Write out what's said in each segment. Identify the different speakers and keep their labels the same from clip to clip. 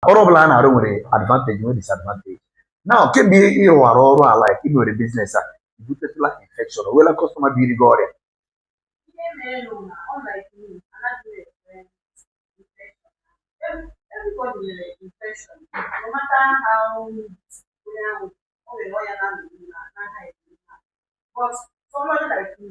Speaker 1: ọrụ ọbụla a na-arụ nwere advantage nwere disadvantage now kemgbe ị rụwara ọrụ a like ị nwere business a i butetụla infection o nweela customer biri gị ọrịa Everybody nwere
Speaker 2: infection, no matter how onye ahụ o nwere ọya na-anọ n'ime na-anaghị eme but somebody like me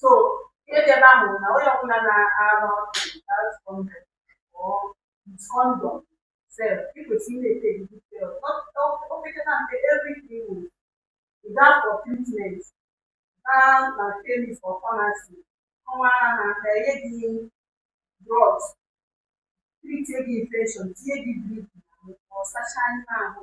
Speaker 2: so ihe dị ebe ahụ bụ na onye ọbụla na-arụ ọrụ without condom or with condom sef ị kwesịrị na-ete gị detail o pekata mpe every three weeks you gaa for treatment gaa na chemist or pharmacy kọwaara ha ka e nye gị drugs treat gị infection tinye gị drip n'ahụ ka ọ sachaa ime ahụ